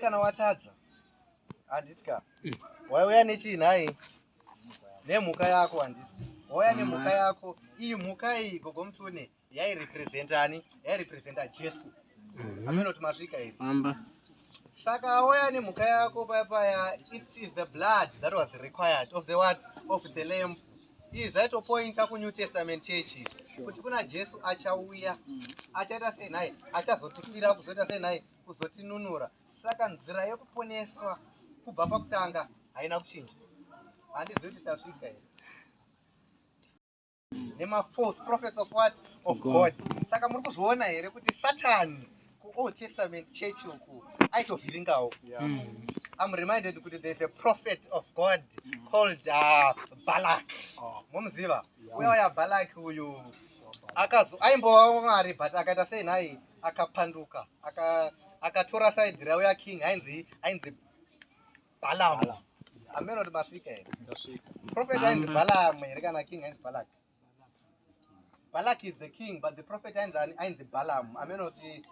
kana watadza handiti ka wauya nechii nhai nemhuka yako handiti wauya nemhuka yako iyi mhuka iyi gogo mutune yairepresentani yairepresenta jesu mm-hmm. ameno kuti masvika iri saka auya nemhuka yako paya paya it is the blood that was required of the what of the lamp izvi zvaitopointa kunew testament church kuti kuna jesu achauya achaita sei nhai achazotifira kuzoita sei nhai kuzotinunura saka nzira yekuponeswa kubva pakutanga haina kuchinja handizivi kuti tasvika here nema false prophets of what of god saka muri kuzviona here kuti satani kuold testament church uku aitovhiringawo mm. I'm reminded kuti there's a prophet of God called uh, Balak. Oh. Momuziva? Uya waya Balak uyu akazo aimbova mwari but akaita sei nhai akapanduka akatora side rauya king ainzi ainzi Balaam. Ameno kuti masvika here? Prophet ainzi Balaam here kana king ainzi Balak? Balak is the king but the prophet ainzi ainzi Balaam. Ameno kuti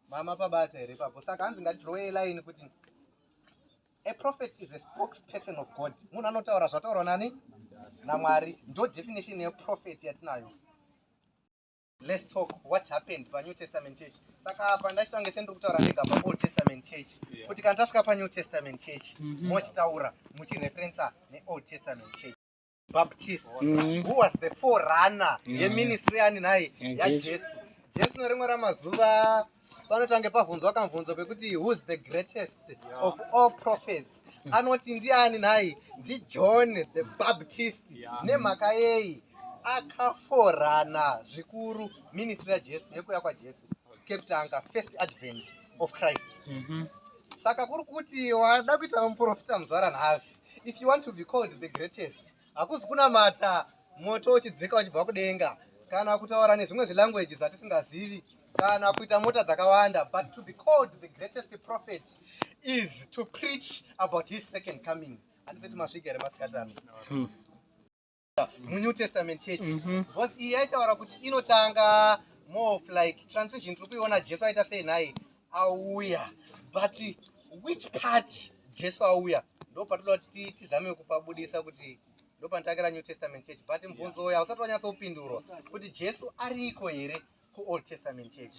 mama pabata here papo. Saka hanzi ngatidrowe line kuti a prophet is a spokesperson of God. Munhu anotaura zvataurwa nani? NaMwari. Ndo definition ye prophet yatinayo. Let's talk what happened pa New Testament church. Saka apa ndachitanga sendiri kutaura ndega pa Old Testament church. Yeah. Kuti kana tasvika pa New Testament church mm -hmm. mochitaura muchireferensa ne Old Testament church. Baptist mm -hmm. who was the forerunner mm -hmm. yeministry ani nhai mm -hmm. yaJesu. Jesu no rimwe ramazuva mm -hmm. vanotange pavhunzwa kamvunzo pekuti who's the greatest yeah. of all prophets mm. anoti ndiani nhai ndijohn the baptist yeah. nemhaka yei akaforana zvikuru ministry yajesu yekuuya kwajesu kekutanga first advent of christ mm -hmm. saka kuri kuti wada kuita muprofita muzvara nhasi if you want to be called the greatest hakuzi kunamata moto uchidzika uchibva kudenga kana kutaura nezvimwe zvilanguages zvatisingazivi kana kuita mota dzakawanda but to be called the greatest prophet is to preach about his second coming handisati masvika here masikatano hmm. munew testament church mhm. because iyi yaitaura kuti inotanga more of like transition tiri kuiona jesu aita sei nhai auya but which part jesu auya ndo patinoda kuti tizame kupabudisa kuti ndo panotangira new testament church but mubvunzo uya usati wanyatsopindurwa kuti jesu ariko here kuold testament church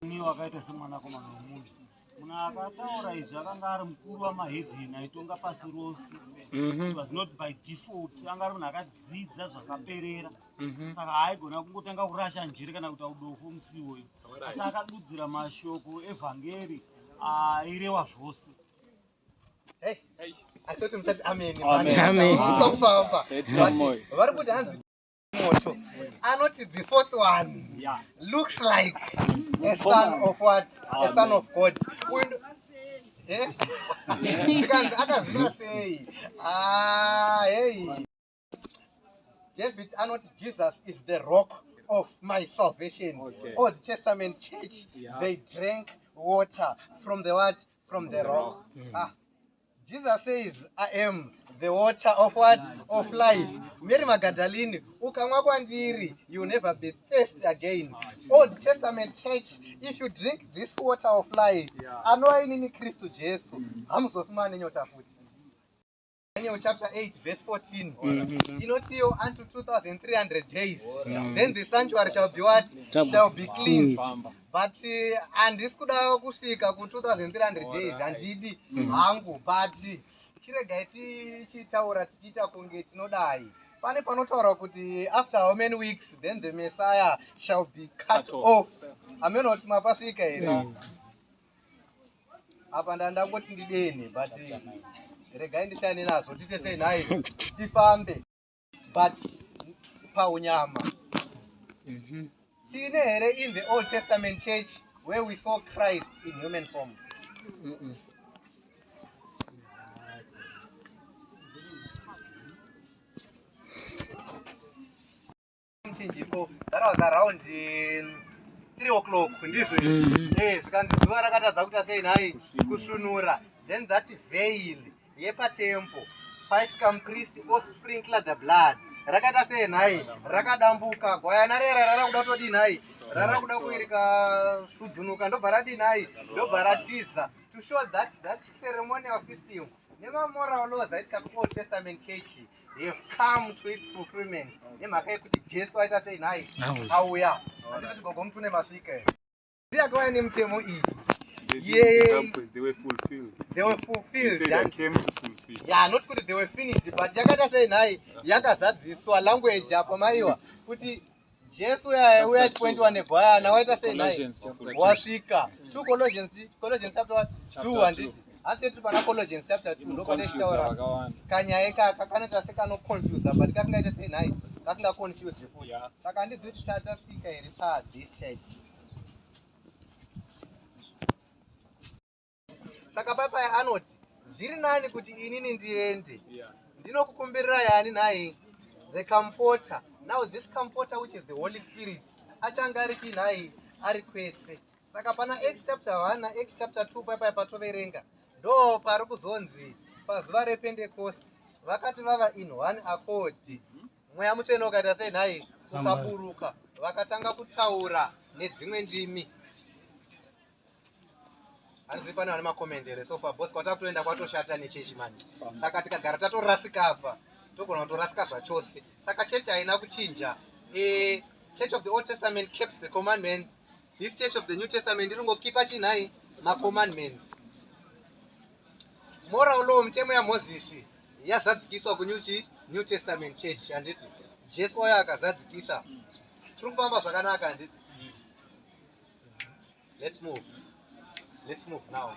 ni wakaita semwanakomana wemunhu munhu akataura izvi akanga ari mukuru wamahedheni aitonga pasi rose mhm. was not by default anga ari munhu akadzidza zvakaperera Mhm. saka haigona kungotanga kurasha njere kana kuita udofo musi iwoyo asi akadudzira mashoko evhangeri airewa zvose atoti muchati ameni Amen. Amen. Mukafamba. Petro moyo. vari kuti hanzi moto anoti the fourth one Yeah. looks like a son of what a son of god Uyu ndo- Eh? Zvikanzi akaziva sei Ah, hey david anoti jesus is the rock of my salvation okay. old testament church yeah. they drank water from the what from the rock mm. ah. jesus says i am the water of what of life mary magadalini ukamwa kwandiri you never be thirsty again old testament church if you drink this water of life anova inini kristu jesu hamuzofi mane nyota futi Daniel chapter 8 verse 14 mm-hmm. inotiwo unto 2300 days mm. then the sanctuary shall be what shall be cleansed mm. but uh, handisi uh, kuda kusvika ku 2300 days handidi mm. hangu mm. but chiregai tichitaura tichiita kunge tinodai pane panotaura kuti after how many weeks then the messiah shall be cut off ameno kuti mapasvika here mm. apa ndandangoti ndidene but regai ndisiyane nazvo tiite sei nhai tifambe but paunyama mhm. tiine here in the old testament church where we saw christ in human form mm -mm. mchinjiko that was around um, three o'clock ndizvo mm-hmm. eh, zvikanzi zuva rakatadza kuita sei nhai kusunura then that veil yepatempo paisvika mupristi osprinkle the blood rakaita sei nhai rakadambuka gwayana rera rara kuda kutodii nhai rara kuda kuirika sudzunuka ndobva radii nhai ndobva ratiza to show that that ceremonial system nemamoral laws aitika kuold testament church they have come to its fulfillment nemhaka yekuti jesu aita sei nhai auya andisi kuti gogo mutune masvika here ndiye akauya nemutemo iyi not kuti they were finished but yakaita sei nhai yakazadziswa language apo maiwa kuti Jesu uya uya chipointi wane bwaya na waita sei naye wasvika two Colossians Colossians chapter what two handiti hanzi tiri pana Colossians chapter two ndo pane chitaura kanyaya ikaka kanoita sekanoconfuse but kasingaite sei naye kasingaconfuse zvefuti saka handizivi kuti tasvika here pa this church saka papai anoti zviri nani kuti inini ndiende ndinokukumbirira yani nhai the comforter now this comforter which is the holy spirit achange ari chii nhai ari kwese saka pana x chapter 1 na x chapter 2 papai patoverenga ndo pari kuzonzi pazuva repentecost vakati vava in one akodi mweya mutsvene ukaita sei nhai ukaburuka vakatanga kutaura nedzimwe ndimi hanzi pane vane makomendi here sofa bos kwatakutoenda kwatoshata nechechi manje saka tikagara tatorasika apa togona kutorasika zvachose saka chechi haina kuchinja e, church of the old testament keeps the commandment this church of the new testament iringokipa chinhai macommandments moral law mitemo yamozisi yazadzikiswa kunyuchi new testament church handiti jesu wayo akazadzikisa tiri kufamba zvakanaka handiti Let's move. Let's move now.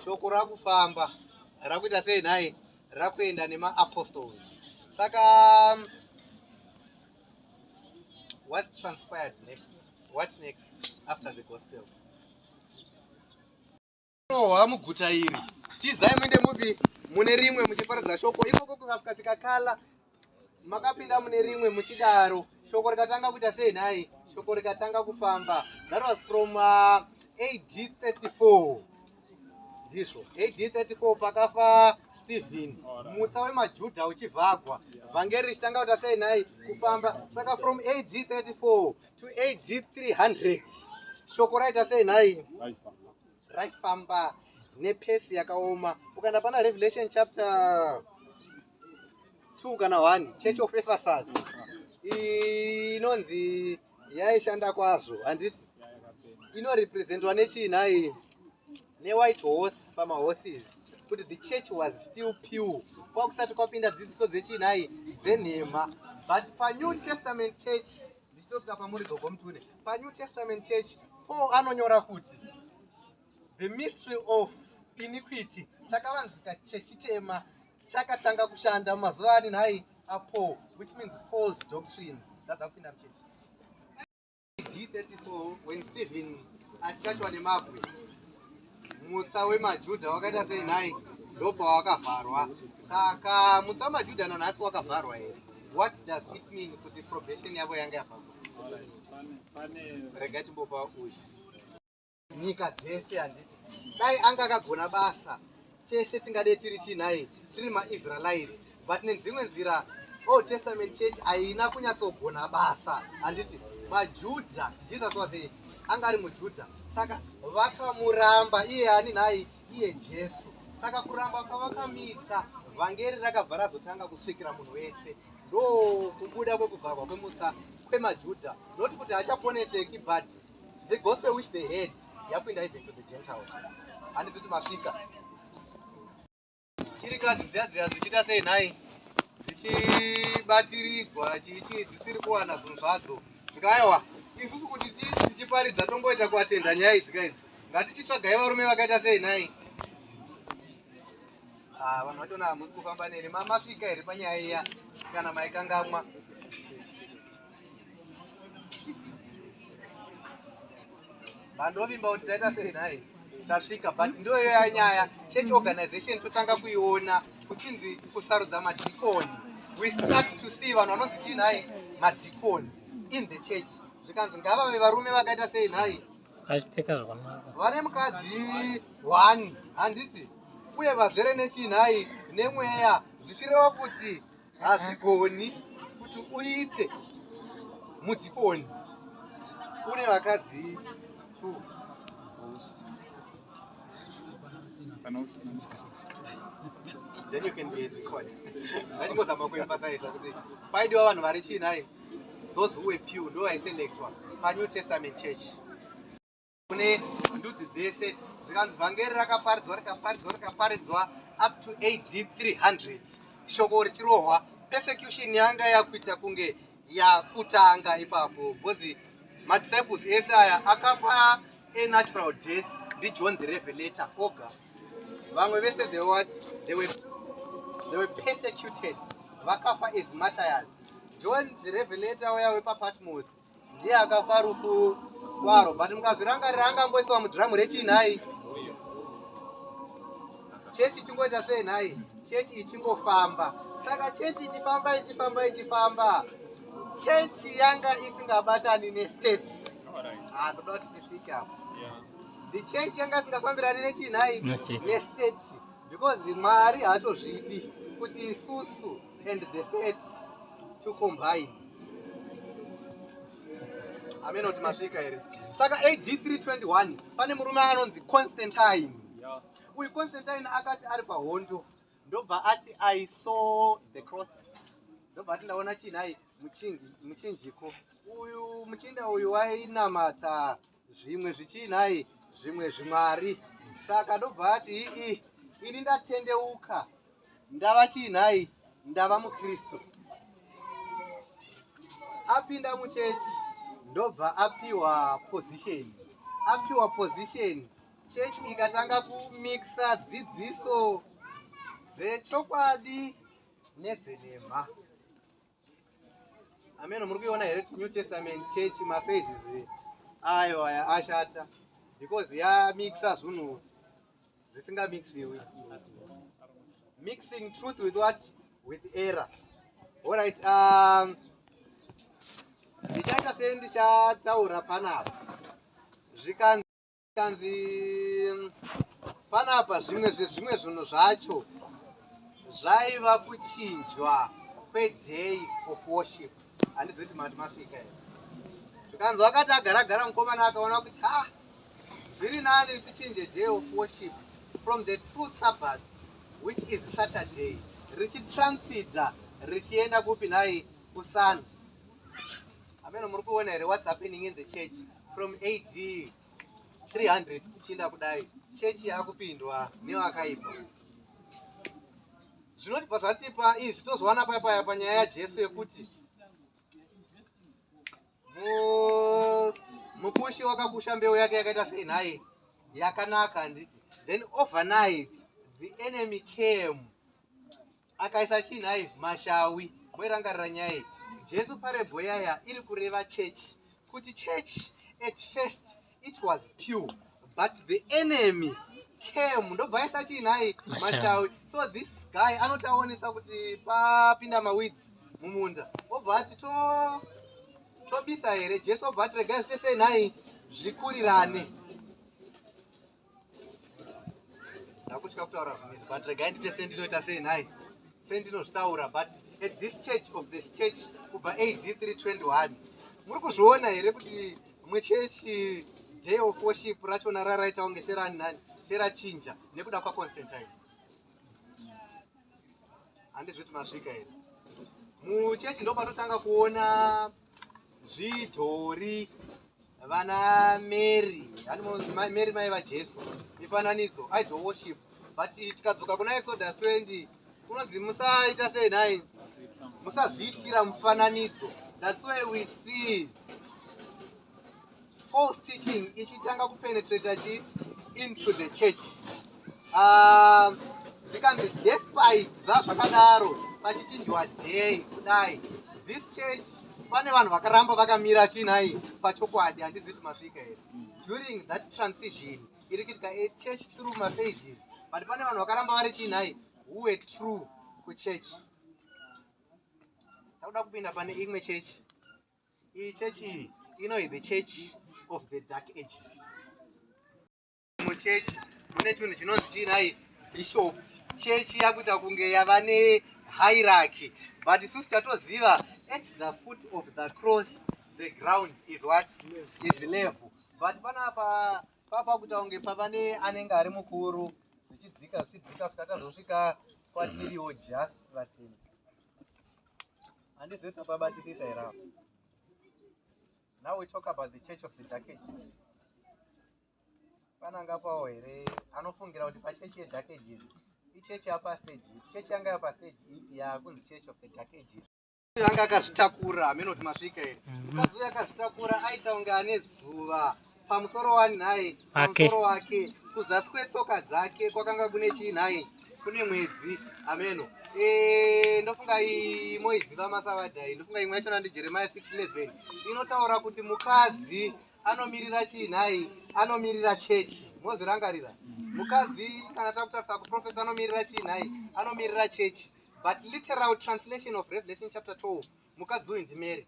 Shoko rakufamba rakuita sei nhai? Rakuenda nemaapostles. Saka um, what transpired next? What next after the gospel? Rohwa muguta iri. Tizai muende mupi mune rimwe muchiparidza shoko. Ikoko kukasvika tikakala makapinda mune rimwe muchidaro. Shoko rikatanga kuita sei nhai? Shoko rikatanga kufamba. That was from uh, AD 34. Ndizvo. AD 34 pakafa Stephen. Mutsa wemaJuda uchivhagwa. Vhangeri richitanga kuita sei nhai? Kufamba. Saka from AD 34 to AD 300. Shoko raita sei nhai? Right. raifamba nepesi yakaoma ukaenda pana revelation chapter 2 kana 1 church of ephesus inonzi yaishanda kwazvo handiti inorepresentwa nechii nhai newhite horse pamahorses kuti the church was still pure kwakusati kwapinda dzidziso dzechii nhai dzenhema but panew testament church ndichitosvika pamuri gogo mutune panew testament church paul anonyora kuti the mystery of iniquity chakavanzika chechitema chakatanga kushanda mumazuva ani nhai apaul which means false doctrines dzadza kupinda muchechi g34 when stephen achikatiwa nemabwe Mutsa wemaJuda wakaita sei nhai? Ndopa wakavharwa. Saka mutsa wemaJuda nanhasi wakavharwa here? What does it mean kuti probation yavo yanga yavharwa? Rega timbopa uyu. Nyika dzese handiti. Dai anga akagona basa. Tese tingadei tiri chii nhai? Tiri maIsraelites. but nedzimwe nzira old testament church haina kunyatsogona basa handiti majudha jesus was a anga ari mujudha saka vakamuramba iye ani nhai iye jesu saka kuramba kwavakamuita vhangeri rakabva razotanga kusvikira munhu wese ndo kubuda kwekuvharwa kwemutsa kwemajudha noti kuti hachaponeseki but the gospel which they had yapinda even to the gentiles handiziti masvika Chirikadzi dziya dziya dzichiita sei nhai? Dzichibatirigwa chichi dzisiri kuwana zvinhu zvadzo. Ngaiwa, isusu kuti tichiparidza tomboita kuatenda nyaya idzi ka idzi. Ngatichitsvagai varume vakaita sei nhai? Ah, vanhu vachona hamusi kufamba neni. Masvika here panyaya iya kana maikangamwa? Mandovimba kuti taita sei nhai? Tasvika but ndiyo iyo yanyaya. Church organization totanga kuiona kuchinzi kusarudza madikoni. We start to see vanhu vanonzi chii nhai? Madikoni in the church. Zvikanzi ngavave varume vakaita sei nhai? Vakapfeka zvakanaka. Vane mukadzi one handiti uye vazere nechii nhai? Nemweya zvichireva kuti hazvigoni kuti uite mudhikoni une vakadzi two kana usina then you can be a discord ndachingozama kuemphasiza kuti paidiwa vanhu vari chii nhai those who were pew ndo vaiselectwa panew testament church kune ndudzi dzese zvikanzi vhangeri rakaparidzwa rikaparidzwa rikaparidzwa up to ad 300 shoko richirohwa persecution yanga yakuita kunge yakutanga ipapo bcause madisciples ese aya akafa enatural death ndijohn the revelator oga vamwe vese the what they were, they were persecuted vakafa as matayas john the revelator waya wepapatmos ndiye akafa rufu kwaro but mukazvirangarira angangoiswa mudhiramu rechii nhai chechi chingoita sei nhai chechi ichingofamba saka chechi ichifamba ichifamba ichifamba chechi yanga isingabatani nestate ah, ndoda kuti tisvike apo the chechi yanga isingafambirani nechii nhai nestate because mwari haatozvidi kuti isusu and the state to combine amene kuti masvika here saka ad 321 pane murume anonzi constantine uyu constantine akati ari pahondo ndobva ati i saw the cross ndobva ati ndaona chinhai muchinjiko uyu muchinda uyu wainamata zvimwe zvichiinai zvimwe zvimwari saka ndobva ati ii ini ndatendeuka ndava chiinai ndava mukristu apinda muchechi ndobva apiwa position apiwa position chechi ikatanga kumixa dzidziso dzechokwadi nedzenhema ameno muri kuiona here new testament church maphases ayo aya ashata because yamixa zvinhu zvisingamixiwi mixing truth with what with error allright um, ndichaita um, sendichatsaura panapa zvikanzi kanzi panapa zvimwe zvezvimwe zvinhu zvacho zvaiva kuchinjwa kweday of worship handizi kuti mati masvika here zvikanzi wakati agaragara mukomana akaona kuti ha zviri nani tichinje day of worship from the true sabbath which is saturday richitransida richienda kupi nhai kusunday ameno muri kuona here what's happening in the church from AD 300 tichienda kudai chechi yakupindwa nevakaipa zvinotibva zvatipa izvi tozowana paya paya panyaya yajesu yekuti mukushi wakakusha mbeu yake yakaita sei nhai yakanaka handiti then overnight the enemy came akaisa chii nhai mashawi moirangarira nyaya iyi jesu parebho yaya iri kureva church kuti church at first it was pure but the enemy came ndobva aisa chii nhai mashawi so this guy anoti aonesa kuti papinda mawids mumunda obva ati to tobisa here jesu obva ati regai zvite sei nhai zvikurirane ndakutya kutaura zvimwe izvi but regai ndite sendinoita sei nhai sendinozvitaura but at this church of this church kubva ad 321 muri kuzviona here kuti mwe chechi day of worship rachona raraita kunge serani nani serachinja nekuda kwaconstantine handizviti masvika here muchechi ndopanotanga kuona zvidhori vana mary mary mai vajesu mifananidzo idol worship but tikadzoka kuna exodus 20 kunonzi musaita sei nhai musazviitira mufananidzo that's why we see false teaching ichitanga kupenetrata chi into the church ah, zvikanzi uh, despite zvazvakadaro pachichinjwa day kudai this church pane vanhu vakaramba vakamira chinai pachokwadi handizivi kuti masvika here during that transition iri kuitika a church through maphases but pane vanhu vakaramba vari chinai who were true kuchurch takuda kupinda pane imwe church iyi church iyi inohi the church of the dark ages muchechi mune chinhu chinonzi chiinai bishop chechi yakuita kunge yava nehiraki but isusu tatoziva at the foot of the cross the ground is what is level but panapa papa kuita kunge pava ne anenge ari mukuru zvichidzika zvichidzika zvikatazosvika kwatiriwo just vatini Andizive topabatisisa here apa. Now we talk about the church of the dark ages. Pananga pawo here anofungira kuti pachechi yedark ages ichechi yapa stage ipi chechi yanga yapa stage ipi yakunzi church of the dark ages anga akazvitakura ameno kuti masvika here mukadzi uyo akazvitakura aita kunge ane zuva pamusoro wani nhai pamusoro wake kuzasi kwetsoka dzake kwakanga kune chii nhai kune mwedzi ameno eh, ndofunga iyi moiziva masavadha iyi ndofunga imwe yachona ndi jeremiya 611 inotaura kuti mukadzi anomirira chii nhai anomirira chechi mozvirangarira mukadzi kana takutarisa kuprofesa anomirira chii nhai anomirira chechi but literal translation of revelation chapter 12 mukadzi uyu ndimeri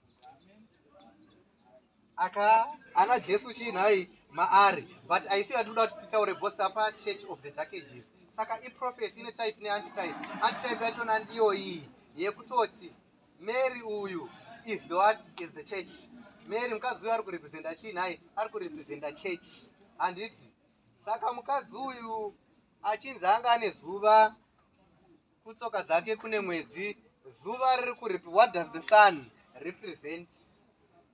aka ana jesu chii nhai maari but isu yatinoda kuti titaure bosta pa church of the dark ages saka iprofesi ine type neantitype antitype yachona ndiyo iyi yekutoti mary uyu is the what is the church mary mukadzi uyu ari kurepresenta chii nhai ari kurepresenta church handiti saka mukadzi uyu achinzi anga ane zuva kutsoka dzake kune mwedzi zuva riri kuripi what does the sun represent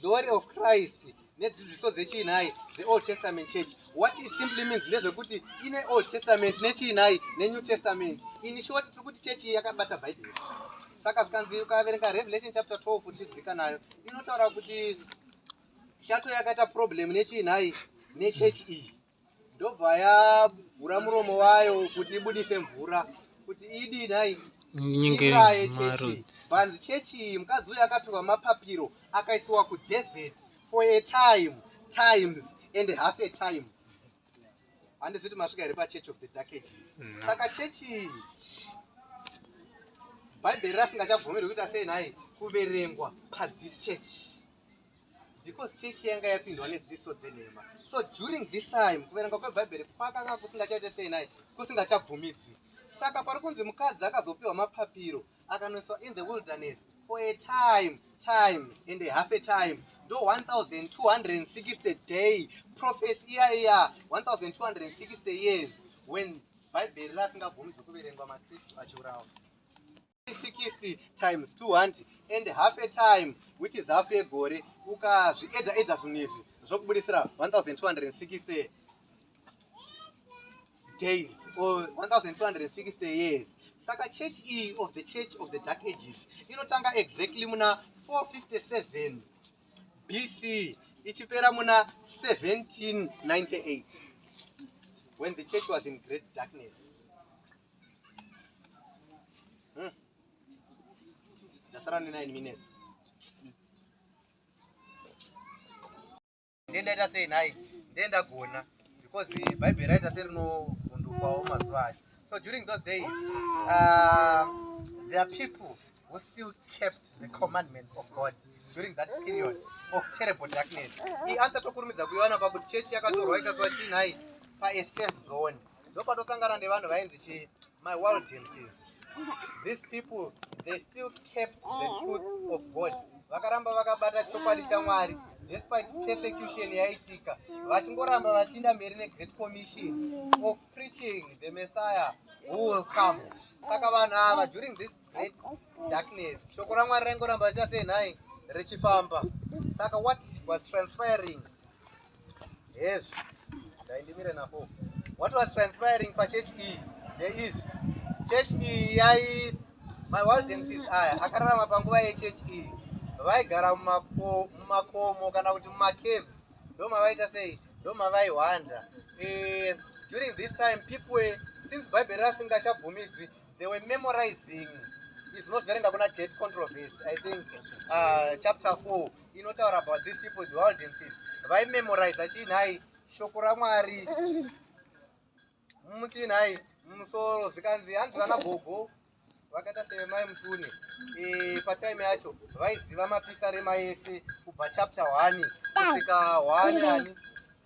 glory of christ nedzidziso dzechiinhai the old testament church what it simply means ndezvekuti ine old testament nechiinhai nenew testament ini shoti tiri kuti chechi yakabata bhaibheri saka zvikanzi ukaverenga revelation chapter 12 uchidzika nayo inotaura kuti shato yakaita problem nechiinhai nechechi iyi ndobva yavhura muromo wayo kuti ibudise mvura kuti idi nhai nyingiraye chechi bhanzi chechi iyi mukadzi uyu akapihwa mapapiro akaisiwa kudesert for a time times and half a time handizi kuti masvika here pachurch of the dark ages mm. saka chechi iyi bhaibheri rasingachabvumirwi kuita sei nhai kuverengwa pathis church because chechi yanga yapindwa nedziso dzenhema so during this time kuverenga kwebhaibheri kwakanga kusingachaite sei naye kusingachabvumidzwi saka pari kunzi mukadzi akazopiwa mapapiro akanoiswa in the wilderness for a time times and a half a time ndo 1260 day prophes iya iya 1260 years when bhaibheri rasingabvumidzwi kuverengwa makristu achiurawa 360 times 2 hanti and half a time which is half a gore ukazviedza edza zvinhu izvi zvokubudisira 1260 days or 1260 years saka church iyi of the church of the dark ages inotanga exactly muna 457 bc ichipera muna 1798 when the church was in great darkness Hmm. Ndasara ne 9 minutes. Ndendaita sei nhai? Ndendagona because Bible raita serinofundukwawo mazuva acho. So during those days, uh, there are people who still kept the commandments of God during that period of terrible darkness. He answered to Kurumidza Kuyana about church Yakatorwa Ikazwa Chinai, by a safe zone. ndopatosangana nevanhu vainzi chii my waldenses these people they still kept the truth of god vakaramba vakabata chokwadi chamwari despite persecution yaitika vachingoramba vachiinda mberi negreat commission of preaching the messiah who will come saka vanhu ava during this great darkness shoko ramwari raingoramba richasenhai richifamba saka what was transpiring hezvi ndaindimire napo what was transpiring pachurch iyi there is church iyi yai mawaldensis aya akararama panguva yechurch iyi vaigara mumakomo kana kuti mumacaves ndomavaita sei ndomavaihwanda eh, during this time people were, since bible rasingachabvumidzwi they were memorizing izvinoziverenga kuna gate controversy i think uh, chapter four inotaura about these people the audiences vaimemoriza chii nhai shoko ramwari muchii nhai musoro zvikanzi hanzi vana gogo vakaita sevemai mutune e, patime yacho vaiziva mapisarema ese kubva chapter one kusvika one ani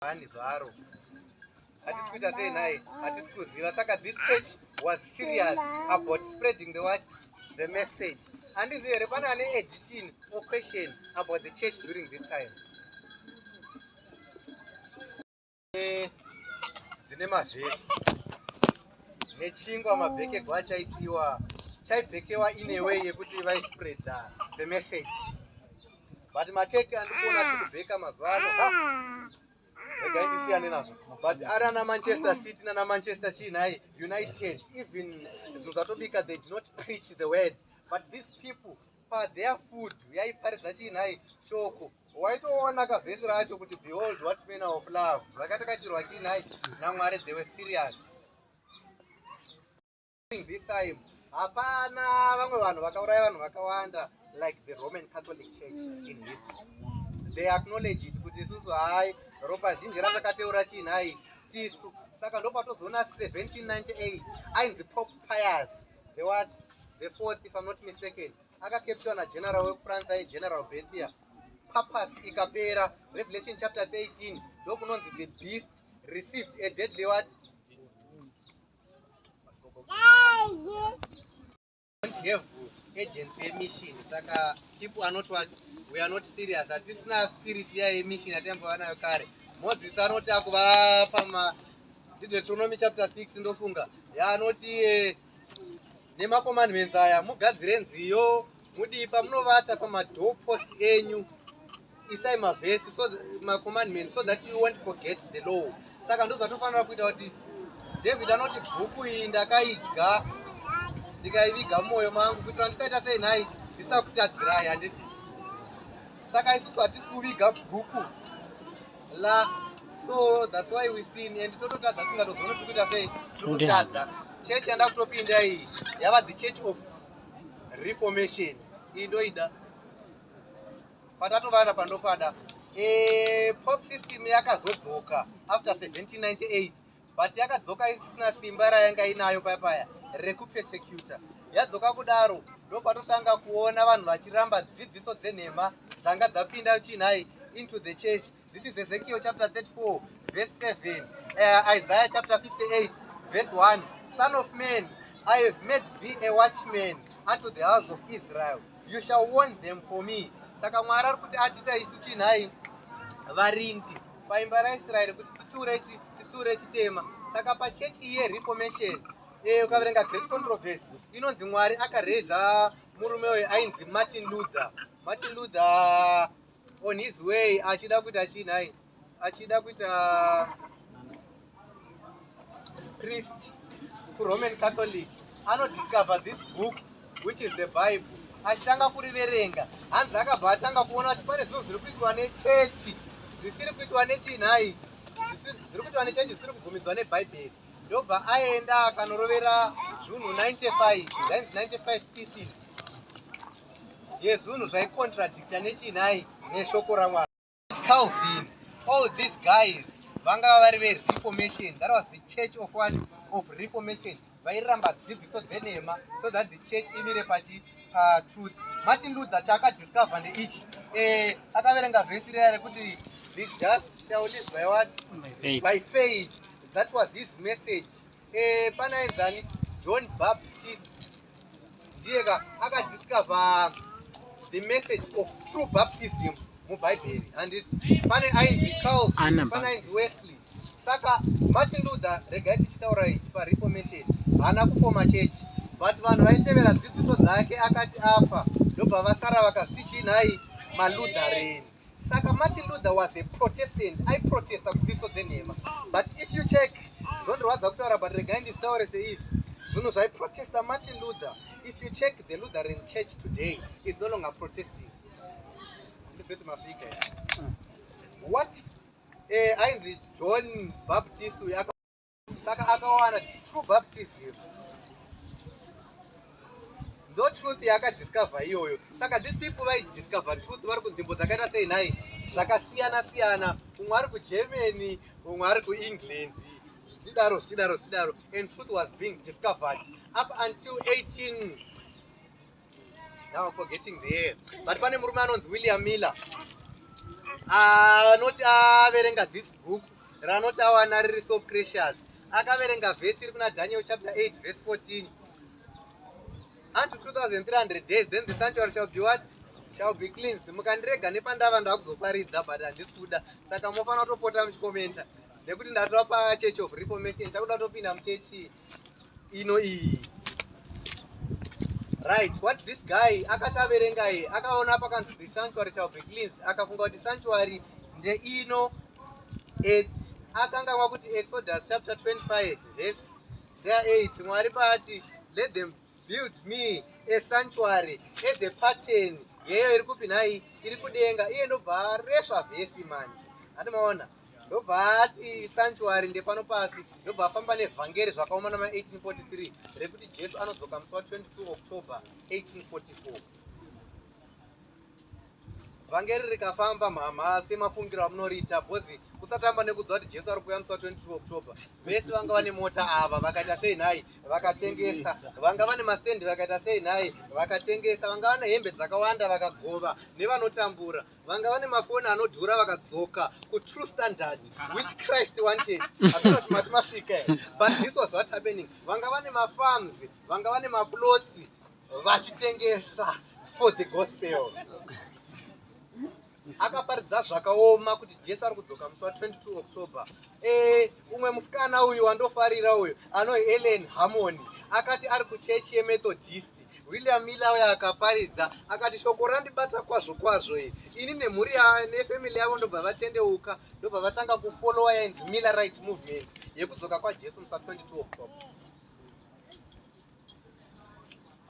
bani zvaro hatisi kuita sei naye hatisi kuziva saka this church was serious about spreading the word the message handizi here pane ane edition or question about the church during this time dzine mavhesi nechingwa mabhekegwa achaitiwa chaibhekewa ineway yekuti vaispreada the message but makeke andikuona tikubheka mazuva ano regai ndisiyane nazvo but ari ana manchester city nana manchester chii nhai united even zvinhu zvatobika they do not preach the word but these people patheir food yaiparidza chii nhai shoko waitoona kavhesi racho kuti behold what manner of love zvakatakachirwa chii nhai namwari they were serious during this time hapana vamwe vanhu vakauraya vanhu vakawanda like the roman catholic church in history they acknowledge it kuti isusu hai ropa zhinji ratakateura chii nhai tisu saka ndopatozoona 1798 ainzi pop pias the what the fourth if i'm not mistaken akakeptiwa nageneral wekufrance ai general bethia papas ikapera revelation chapter 13 ndokunonzi the beast received a deadly what have agency yemission saka people are not what we are not serious hatisina spirit ya yemission yataimbova nayo kare moses anoti akuvapa ma deuteronomy chapter 6 ndofunga yaanoti eh, nemacommandments aya mugadzire nziyo mudii pamunovata pamadoor post enyu isai mavhesi so macommandment so that you wont forget the law saka ndozvatofanira kuita kuti david anoti bhuku iyi ndakaidya ndikaiviga mumwoyo mangu kuitira ndisaita sei nhai ndisakutadzirai handiti saka isusu hatisi kuviga bhuku la so thats why we sin and tototadza tingatozoona tiri kuita sei tototadza church yanda kutopinda iyi yava the church of reformation iyi ndoida patatovana pandopada e, pop system yakazodzoka after 1798 but yakadzoka isisina simba rayanga inayo paya paya rekupesecuta yadzoka kudaro ndopatotanga kuona vanhu vachiramba dzidziso dzenhema dzanga dzapinda chinhai into the church This is Ezekiel chapter 34 verse 7. Uh, Isaiah chapter 58 verse 1. Son of man, I have made thee a watchman unto the house of Israel. You shall warn them for me. Saka Mwari ari kuti atita isu chinhai varindi paimba raIsraeri kuti titure chi titure chitema. Saka pachurch iye reformation eh ukaverenga great controversy inonzi Mwari akareza murume uyu ainzi Martin Luther. Martin Luther on his way achida kuita chii nhai achida kuita priest kuroman catholic anodiscover this book which is the bible achitanga kuriverenga hanzi akabva atanga kuona kuti pane zvinhu zviri kuitwa nechechi zvisiri kuitwa nechii nhai zviri kuitwa nechechi zvisiri kubvumidzwa nebhaibheri ndobva aenda akanorovera zvunhu 95 zvainzi 95 pieces yezunhu zvaicontradicta nechii nhai neshoko ramwari calvin all these guys vangava vari vereformation that was the church of what of reformation vairamba dzidziso dzenhema so that the church imire pachi patruth martin luther chaakadiscover ndeichi eh, akaverenga vhesi reya rekuti the just shall live by what by faith that was his message Eh, pana enzani John Baptist ndiye ka akadiscover the message of true baptism mubhaibheri handiti pane ainzi Calvin Anna pane Baptist. ainzi Wesley saka Martin Luther regai tichitaura ichi pareformation haana kufoma chechi but vanhu vaitevera dzidziso dzake akati afa ndobva vasara vakaziti chii nhai maluthereni saka martin luther was a protestant aiprotesta kudziso dzenhema but if you check zvondirwadza kutaura but regai ndizitaure seizvi zvinhu zvaiprotesta martin luther if you check the lutheran church today is no longer protesting ndizoti mafika what eh, ainzi john baptist uyo saka akawana true baptism ndo truth yaakadiscover iyoyo saka these people vaidiscover truth vari kunzvimbo dzakaita sei nhai dzakasiyana siyana umwe ari kugermany umwe ari kuengland zvichidaro zvichidaro zvichidaro and truth was being discovered up until 18 Now forgetting the air. But pane murume anonzi William Miller anoti ah, averenga ah, this book ranoti awana riri so precious akaverenga vhesi iri kuna daniel chapter 8 verse 14 unto 2300 days then the sanctuary shall be what shall be cleansed mukandirega nepandava ndakuzoparidza but handisi kuda saka mofanira kutopota muchikomenta nekuti ndatova pachechi of reformation takuda kutopinda muchechi ino iyi right what this guy akati averenga ye akaona pakanzi the sanctuary shall be cleansed akafunga kuti sanctuary ndeino akanganwa kuti exodus chapter 25 verse there 8 mwari paati let them Build me a sanctuary as a pattern yeyo iri kupi nhai iri kudenga iye ndobva aresva vhesi manje hati maona ndobva ati sanctuary ndepano pasi ndobva afamba nevhangeri zvakaoma nama 1843 rekuti jesu anodzoka musi wa 22 october 1844 vhangeri rikafamba mhamha semafungiro amunoriita bcoz kusatamba nekudzwa kuti jesu ari kuuya musi wa 22 october vese vanga vane mota ava vakaita sei nhai vakatengesa vanga vane mastendi vakaita sei nhai vakatengesa vanga vane hembe dzakawanda vakagova nevanotambura vanga vane mafoni anodhura vakadzoka kutrue standard which christ wanted aona kuti mati masvika but this was what happening vanga vane mafarms vanga vane maplots vachitengesa for the gospel akaparidza zvakaoma kuti jesu ari kudzoka musi wa 22 october e, umwe musikana uyu wandofarira uyu ano helen harmony akati ari kuchechi yemethodist william miller uyo akaparidza akati shoko randibata kwazvo kwazvo iri ini nemhuri nefamily yavo ndobva vatendeuka ndobva vatanga kufolowa yainzi miller right movement yekudzoka kwajesu musi wa 22 october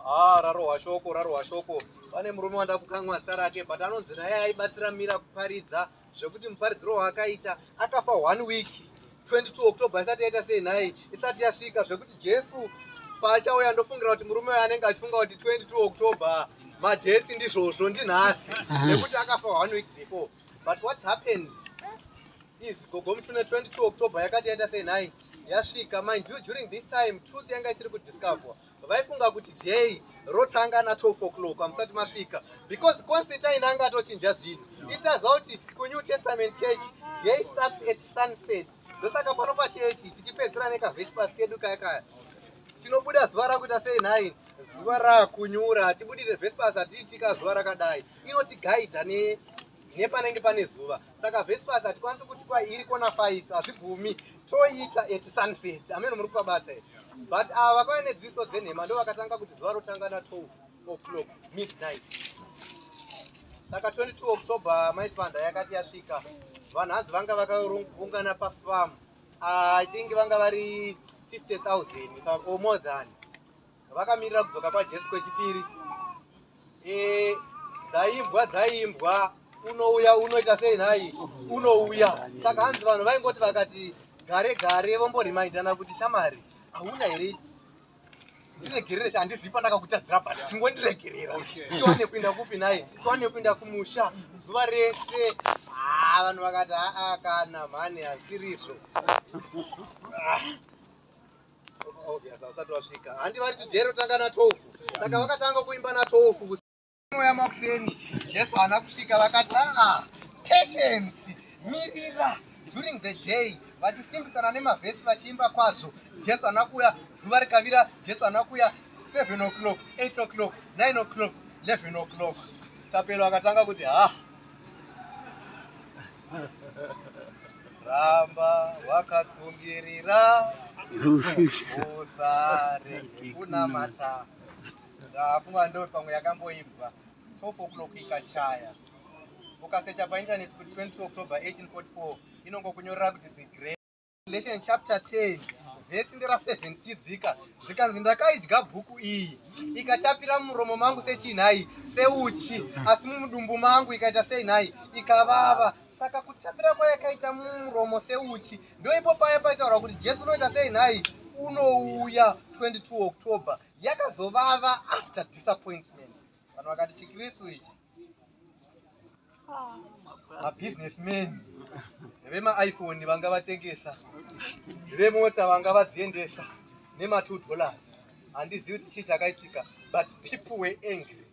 Ah, rarohwa shoko rarohwa shoko pane murume wanda kukanwa zita rake but anonzi naye aibatsira mira kuparidza zvekuti muparidziro waakaita akafa one week 22 october isati yaita sei nhai isati yasvika zvekuti jesu paachauya ndofungira kuti murume uyo anenge achifunga kuti 22 october madhetsi ndizvozvo ndinhasi nekuti akafa one week before but what happened is gogo mutune 22 october yakati yaita sei nhai yasvika mind you during this time truth yanga isiri kudiscoverwa vaifunga kuti day rotanga na 12 o'clock amusati masvika because constantine anga atochinja zvinhu isaziva kuti kunew testament church day starts at sunset ndosaka pano pachechi tichipedzisira nekavespers kedu kaya kaya tinobuda zuva rakuita sei nhai zuva rakunyura hatibudire vespers hatiitika zuva rakadai inotigaidha ne nepanenge pane zuva saka vespas hatikwanisi kuti kwairi kona 5 hazvibvumi toita at sunset amene muri kuvabata here but ava vakauya nedziso dzenhema ndo vakatanga kuti zuva rotanga na 12 o'clock midnight saka 22 october maisvanda yakati yasvika vanhu hanzi vanga vakaungana pafam ah, i think vanga vari 50 000 or more than vakamirira kudzoka kwajesu kwechipiri e, dzaimbwa dzaimbwa unouya unoita sei nhai unouya saka hanzi vanhu vaingoti vakati gare gare vomboremaindana kuti shamari hauna here ndiregerere handizivi pandakakutadzira but chingondiregerera tiwane kuinda kupi nhai tiwane kuinda kumusha zuva rese haa vanhu vakati haa kana mhani hasirizvo Obvious, hausati wasvika. Handi vari kuti jeri rotanga na 12. Saka vakatanga kuimba na 12 kusi- moya makuseni. Jesu haana kusvika vakati ah patience mirira during the day vachisimbisana nemavhesi vachiimba kwazvo. Jesu haana kuuya zuva rikavira. Jesu haana kuuya 7 o'clock, 8 o'clock, 9 o'clock, 11 o'clock. Tapelo akatanga kuti ha ramba wakatsungirira usare kunamata ndafunga ndo pamwe yakamboimbwa 12 o'clock ikachaya ukasecha paintaneti kuti 20 october 1844 inongokunyorera kuti the great Revelation chapter 10 vhesi ndera 7 tichidzika zvikanzi ndakaidya bhuku iyi ikatapira mumuromo mangu sechii nhai seuchi asi mumudumbu mangu ikaita sei nhai ikavava saka kutapira kwayakaita mumuromo seuchi ndoipo paye paitaura kuti jesu unoita sei nhai unouya 22 october yakazovava after disappointment Vanhu vakati chiKristu ichi. mabusinessmen vemaiphone vanga vatengesa vemota vanga vadziendesa nema2 dollars handizivi kuti chii chakaitika but people were angry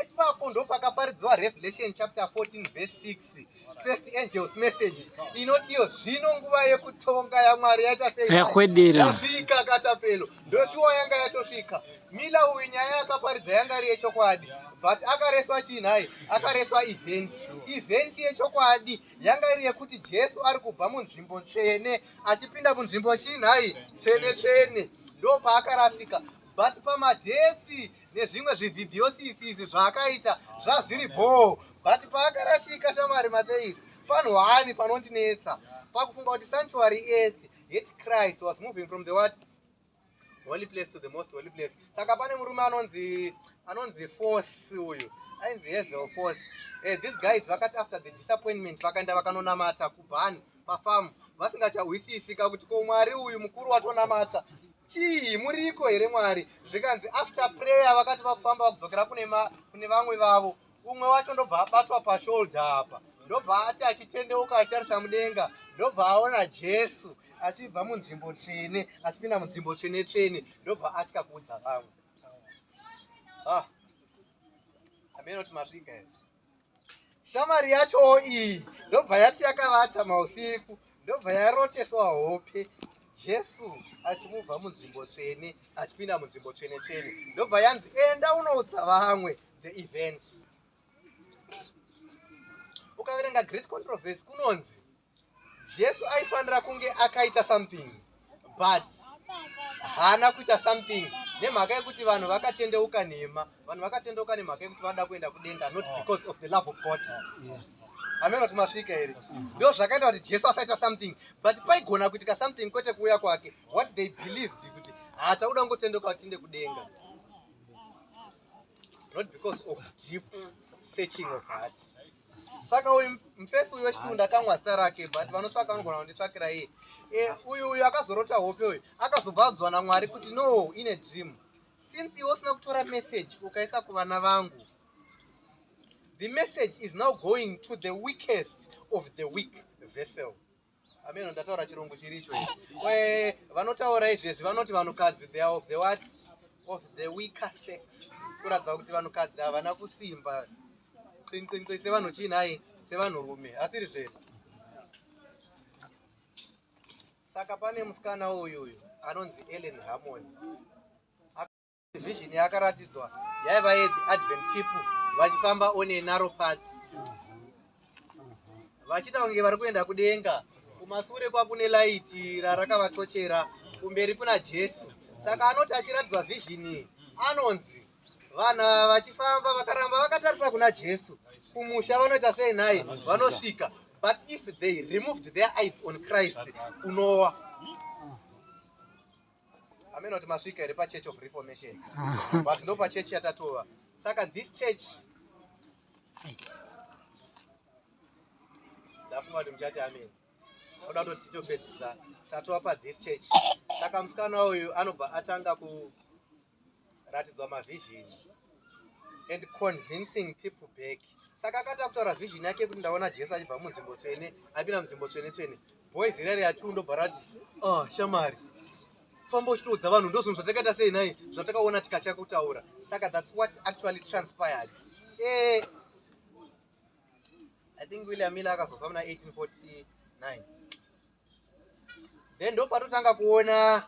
ipapo ndopakaparidziwa revelation chapter 14 verse 6 First angels message inoti iyo zvino nguva yekutonga yaMwari yaita sei? Yakwedera. Yasvika katapelo. Ndoshuwa yanga yatosvika. Mila uyu nyaya yakaparidza yanga iri yechokwadi but akareswa chii nhai? Akareswa event. Event yechokwadi yanga iri yekuti Jesu ari kubva munzvimbo tsvene achipinda munzvimbo chii nhai? Tsvene tsvene. Ndopaakarasika. But pamadethi nezvimwe zvivhibhiosisi izvi zvaakaita zvazviri bhoo but paakarashika shamari matheis panhwani panondinetsa pakufunga kuti sanctuary earth yet christ was moving from the what holy place to the most holy place saka pane murume anonzi anonzi force uyu ainzi hezel force hey, eh, these guys vakati after the disappointment vakaenda vakanonamata kubhani pafamu vasingachahwisisika kuti ko mwari uyu mukuru watonamata chii muriko here mwari zvikanzi after prayer vakati vakufamba vakudzokera kune vamwe vavo umwe wacho ndobva abatwa pashoulder apa ndobva ati achitendeuka achitarisa mudenga ndobva aona jesu achibva munzvimbo tsvene achipinda munzvimbo tsvene tsvene ndobva atya kuudza vamwe ah, amene kuti masvika here shamwari yachowo iyi ndobva yati yakavata mausiku ndobva yaroteswa hope jesu achimubva munzvimbo tsvene achipinda munzvimbo tsvene tsvene ndobva yanzi enda unoudza vamwe the event ukaverenga great controversy kunonzi jesu aifanira kunge akaita something but haana kuita something nemhaka yekuti vanhu vakatendeuka nhema vanhu vakatendeuka nemhaka yekuti vanoda kuenda kudenga not ah. because of the love of god ah, amena kuti masvika here ndo zvakaita kuti jesu asaita something but paigona kuitika something kwete kuuya kwake what they believed kuti hatakuda kungotendeuka kuti tiende kudenga not because of deep searching of heart saka uyu mfesi uyu wechisiku ndakamwa zita rake but vanotsvaka vanogona kunditsvakira iye eh, uyu uyu akazorota hope uyu akazobva adzwa namwari kuti no ine dream since iwe usina kutora message ukaisa kuvana vangu the message is now going to the weakest of the weak vessel Ameno ndataura chirungu chiricho ichi. Vanotaura izvezvi vanoti vanhukadzi they are of the what? Of the weaker sex. Kuratidza kuti vanhukadzi havana kusimba. Qinqinqi sevanhu chii nhai? Sevanhurume. Asiri zvere. Saka pane musikana uyu uyu anonzi Ellen Harmony. Vision yakaratidzwa yaiva yedhi Advent people vachifamba on a narrow path vachiita kunge vari kuenda kudenga kumasure kwakune laiti rarakavatochera kumberi kuna Jesu saka anoti achiratidzwa vision anonzi vana vachifamba vakaramba vakatarisa kuna Jesu kumusha vanoita sei naye vanosvika but if they removed their eyes on Christ unowa amene kuti masvika here pachurch of reformation but ndo pachurch yatatova saka this church ndafunga kuti muchati amene oda kuti titopedzisa tatova pathis church saka musikana uyu anobva atanga ku ratidzwa mavision and convincing people back saka akati akutaura vision yake kuti ndaona jesu achibva munzvimbo tsvene apinda munzvimbo tsvene tsvene boys irari yatu ndobva rati ah shamari famba uchitoudza vanhu ndozvinhu zvatakaita sei nhai zvatakaona tikatya kutaura saka thats what actually transpired eh, i think william miller akazofa muna 1849 then ndopatotanga kuona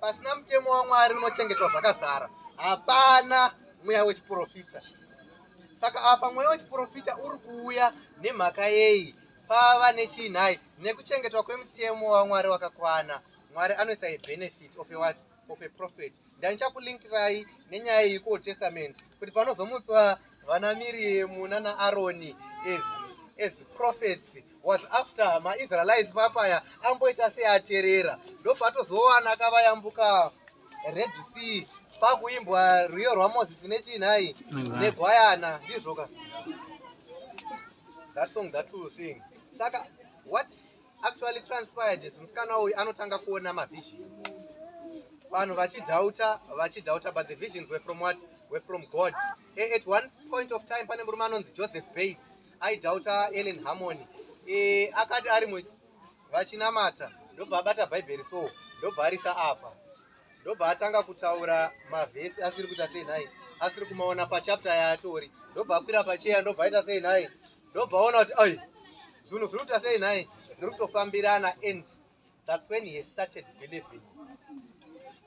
Pasina mutemo waMwari unochengetwa zvakazara, hapana mweya wechiprofita. Saka apa mweya wechiprofita uri kuuya nemhaka yei? Pava nechii nhai? Nekuchengetwa kwemutemo waMwari wakakwana. Mwari anoisa a benefit of a what? Of a prophet. Ndanichakulinkirai nenyaya iyi kuOld Testament kuti panozomutswa vana miriemu nana aroni as, as prophets was after maisraelites papaya amboita seaterera ndopatozowana kavayambuka red sea pakuimbwa rwiyo rwamozisi nechinhai negwayana ndizvoka that song that will sing saka what actually transpired this musikana uyu anotanga kuona mavision vanhu vachidhauta vachidhauta but the visions were from what were from god e, at one point of time pane murume anonzi joseph bates aidhauta ellen harmony e, akati ari mu vachinamata ndobva abata bhaibheri so ndobva arisa apa ndobva atanga kutaura mavhesi asiri kuita sei nhai asiri kumaona pachapta yaatori ndobva akwira pacheya ndobva aita sei nhai ndobva aona kuti ai zvinhu zviri kuita sei nhai zviri kutofambirana and thats when he started believing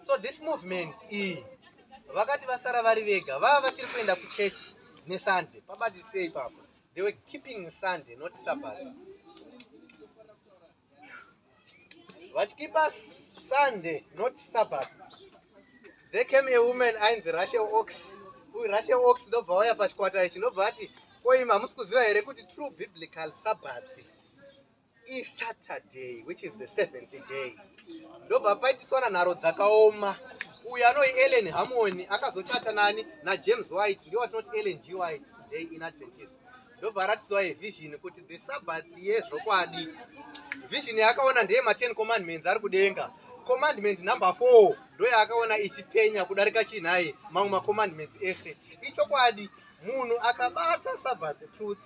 so this movement iyi vakati vasara vari vega vava vachiri kuenda kuchechi nesunday pabatisei papa they were keeping sunday not sabbath vachikipa sunday not sabbath they came a woman ainzi russia ox uyu russia ox ndobva waya pachikwata ichi ndobva ati koim hamusi kuziva here kuti true biblical sabbath isaturday which is the seventh day ndobva paitiswana nharo dzakaoma uyu anoi ellen hamoni akazochata nani najames white ndiwo atinoti ellen g white today in adventist ndobva aratidzwa yevhizhini kuti the sabbath yezvokwadi vhizhini yaakaona ndeye maten commandments ari kudenga commandment number four ndoyaakaona ichipenya kudarika chinhai mamwe macommandments ese ichokwadi munhu akabata sabbath truth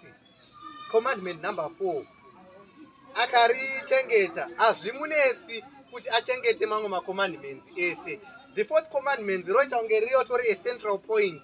commandment number four akarichengeta hazvimunetsi kuti achengete mamwe macommandments ese the fourth commandments roita kunge ririyo tori a central point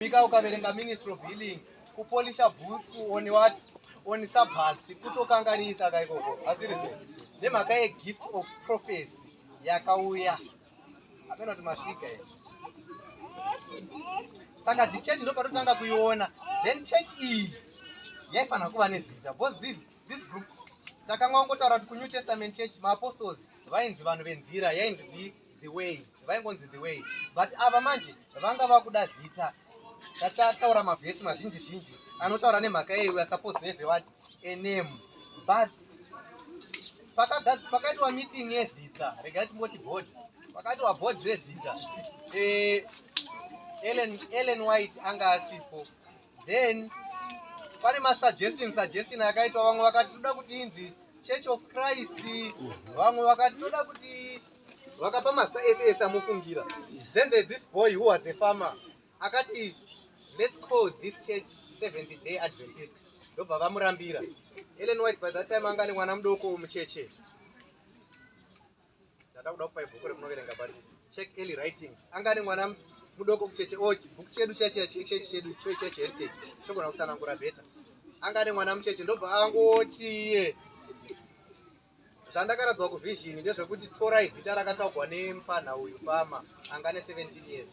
Bika ukaverenga Ministry of Healing kupolisha boots on what on sabhast kutokanganisa ka ikoko asiri so nemhaka yegift of prophecy yakauya amena kuti masvika i saka dzichechi ndo patotanga kuiona then chechi iyi yaifanira kuva nezita because this, this group takanga wangotaura kuti kunew testament church maapostols vainzi vanhu venzira yainzi dii the way vaingonzi the way but ava manje vanga vakuda zita tachataura mavhesi mazhinji zhinji anotaura nemhaka yei we are supposed to have a what a name but pakaitwa meeting yezita regai timboti board pakaitwa board rezita eh, ellen ellen white anga asipo then pane masuggestion suggestion akaitwa vamwe vakati toda kuti inzi church of christ vamwe vakati toda kuti vakapa mazita ese ese amofungira then there's this boy who was a farmer akati let's call this church 70 day adventist ndobva vamurambira ellen white by that time anga ane mwana mudoko mucheche ndada kuda kupa ibhuku remunoverenga pari check early writings anga ane mwana mudoko kucheche o oh, bhuku chedu chechechi chedu chechechi heritage chogona kutsanangura beta anga ane mwana mucheche ndobva angoti iye zvandakaradzwa kuvision ndezvekuti torai zita rakataugwa nemfanha uyu fama anga ne 17 years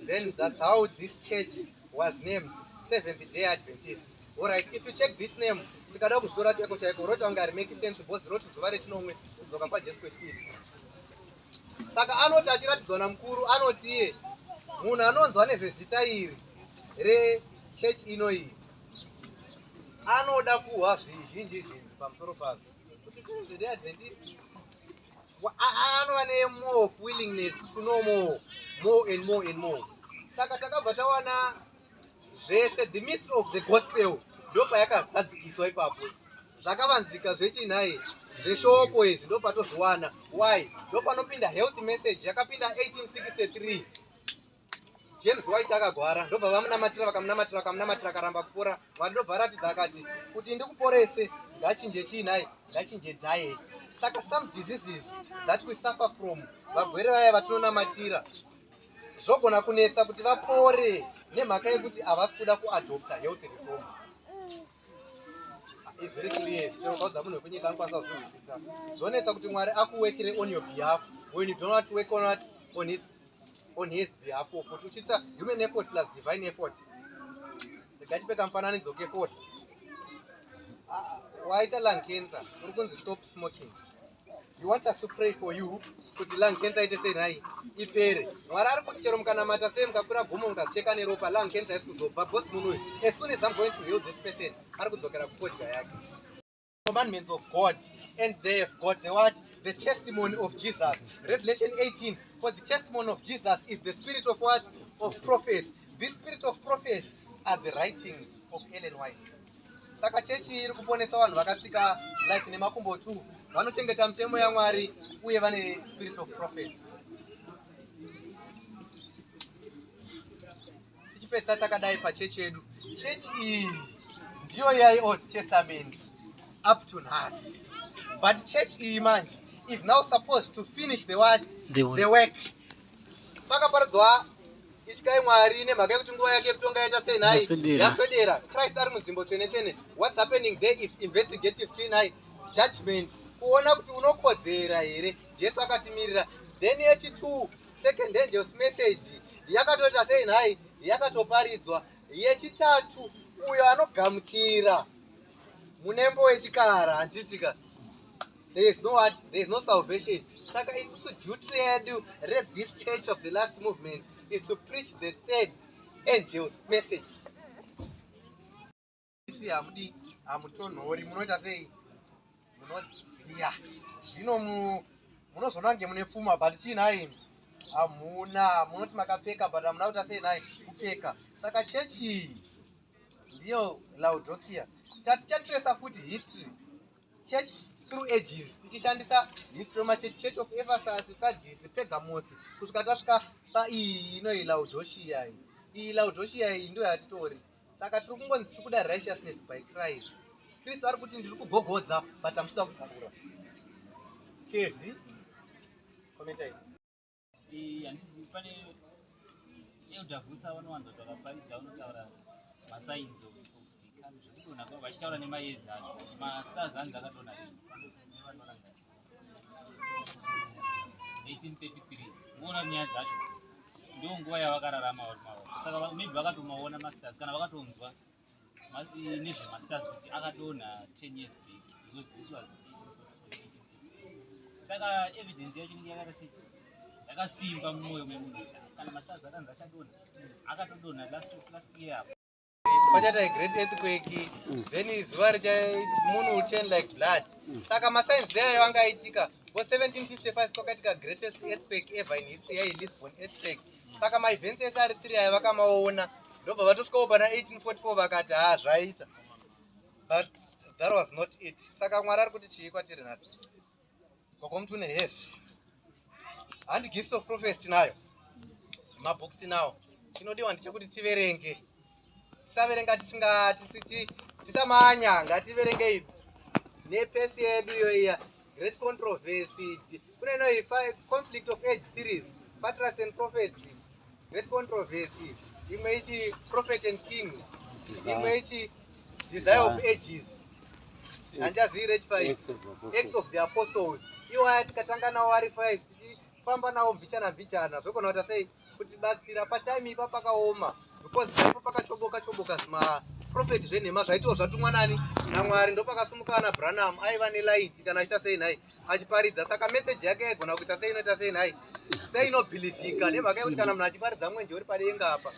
then thats how this church was named seventh day adventist orit if you check this name tikada kuzvitora chaiko chaiko roti ange harimake sense bcause roti zuva rechinomwe kudzoka kwajesu kwechipiri saka anoti achiratidzwa namukuru anoti iye munhu anonzwa nezezita iri rechurch ino iyi anoda kuhwa zvizhinji zvinzi pamusoro pazvo anova nemore of willingness to know more more and more and more saka takabva tawana zvese the mystery of the gospel ndopayakazadzikiswa ipapo zvakavanzika zvechinhai zveshoko izvi ndopatozviwana why ndopanopinda health message yakapinda 1863 James White akagwara ndobva vamunamatira vakamunamatira vakamunamatira akaramba kupora Mwari ndobva aratidza akati kuti ndikuporese ngachinje chii nhai ngachinje diet saka some diseases that we suffer from vagwere vaya vatinonamatira zvogona kunetsa kuti vapore nemhaka yekuti havasi kuda kuadopta health reform It's very clear. Chinokaudza munhu wekunyika anokwanisa kuzvinzwisisa. Zvonetsa kuti Mwari akuwekere on your behalf when you do not work on what on his on his behalf of kuti uchitsa human effort plus divine effort. Ndikati peka mufananidzo ke effort. Ah, waita lung cancer, uri kunzi stop smoking. You want us to pray for you kuti lung cancer ite sei nhai ipere. Mwari ari kuti chero mukanamata sei mukakwira gomo mukazicheka neropa lung cancer isi kuzobva because munhu uyu as soon as I'm going to heal this person ari kudzokera kufodya yake. Commandments of God and they have got the what? The testimony of Jesus. Revelation 18 for the testimony of Jesus is the spirit of what? Of prophecy. This spirit of prophecy are the writings of Ellen White. Saka chechi iri kuponesa vanhu vakatsika life nemakumbo two vanochengeta mitemo yaMwari uye vane spirit of prophecy. Tichipesa takadai pachechi yedu. Chechi iyi ndiyo yai Old Testament up to nhasi. But chechi iyi manje is now supposed to finish the what? The work. The work. pakaparidzwa ityai mwari nemhaka yekuti nguva yake yekutonga yaita sei nhai yaswedera christ ari munzvimbo tsvene tsvene whats happening there is investigative chii nhai judgment kuona kuti unokodzera here jesu akatimirira then yechitwo second angels message yakatoita sei nhai yakatoparidzwa yechitatu uyo anogamuchira munembo wechikara handitika there is no what there is no salvation saka isusu duty redu rethis church of the last movement is to preach the third angels message isi hamudi hamutonhori munoita sei munodziya zvino munozoona kunge mune pfuma but chii nhai hamuna munoti makapfeka but hamuna kuita sei nhai kupfeka saka chechi ndiyo laudokia tatichatiresa futi history church through ages tichishandisa history machurch church of ephesus sadis pegamos kusvika tasvika paiyi inoyi laudoshia iyi iyi laudoshia iyi ndo yatitori saka tiri kungonzi tiri kuda righteousness by christ kristu ari kuti ndiri kugogodza but amusida kuzarura kevi komentai Eh, handisi pane elder vusa vanowanza kuti vakaparidza vanotaura masigns of become zvekudona kwavo vachitaura nemayezi acho mastars anzi akadona nevadona 1833 kuona nyaya dzacho ndo nguva yavakararama vari mavo saka maybe vakatomaona masters kana vakatonzwa nezvemastars kuti akadonha 10 years back because this was saka evidence yacho inenge yakarasika yakasimba mumwoyo memunhu kuti kana mastars akanzi achadonha akatodonha last of last year apo kwachata great earthquake mm. then zuva richa moon will turn like blood mm. saka masigns ayo anga aitika ngo 1755 kwakaitika greatest earthquake ever in history yailisbon earthquake saka maevents ese ari three ayo vakamaona ndobva vatosvikawo pana 1844 vakati haa zvaita but that was not it saka mwari ari kuti chii kwatiri nhasi kokomuti une hes handi gift of prophes tinayo mabooks tinawo chinodiwa ndechekuti tiverenge tisaverenga tisinga tisiti tisamanya ngativerengei nepesi yedu iyoiya great controversy kune inoyi conflict of age series patracks and prophets great controversy imwe ichi prophet and king imwe ichi desire of ages handiazivi rechifaii acts of the apostles iwaya tikatanga nawo ari five tichifamba nawo mbichana mbichana zvekona kuti asei kutibatsira patime ipa pakaoma because ipo pakachoboka choboka zvima prophet zvenhema zvaitiwo zvatumwa nani namwari ndopakasumuka ana branham aiva nelight kana achiita sei nhai achiparidza saka meseji yake yaigona kuita sei inoita sei nhai sei inobhilivhika nemhaka yekuti kana munhu achiparidza mwenje uri padenga apa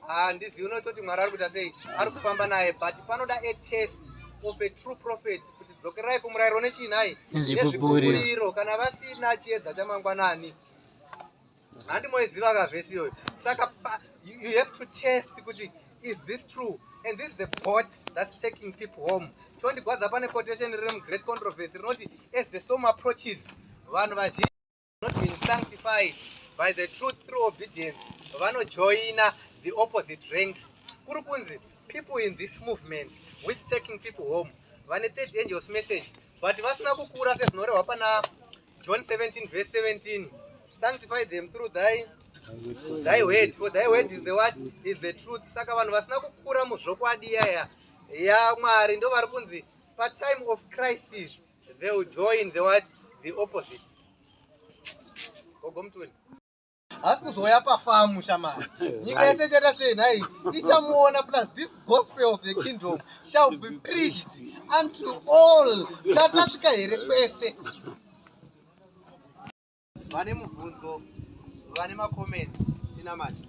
handizivi unototi mwari ari kuita sei ari kufamba naye but panoda a test of a true prophet kuti dzokerai kumurayiro nechii nhai nezvibubiriro kana vasina chiedza chamangwanani handi moiziva ka vhesi iyoyo saka you have to test kuti is this true and this is the court that's taking people home tondigwadza pane quotation riri mugreat controversy rinoti as the storm approaches vanhu vazhinji not being sanctified by the truth through obedience vanojoina the opposite ranks kuri kunzi people in this movement which taking people home vane third angels message but vasina kukura sezvinorehwa pana John 17 verse 17. Sanctify them through thy thy word for thy word is the what is the truth. Saka vanhu vasina kukura muzvokwadi yaya ya Mwari ndo vari kunzi pa time of crisis they will join the what the opposite. Gogo mtuni. haasi kuzouya pafamu shamari nyika yese ichaita sei nhai ichamuona plus this gospel of the kingdom shall be preached unto all tatasvika here kwese vane mubvunzo vane macomments tinamati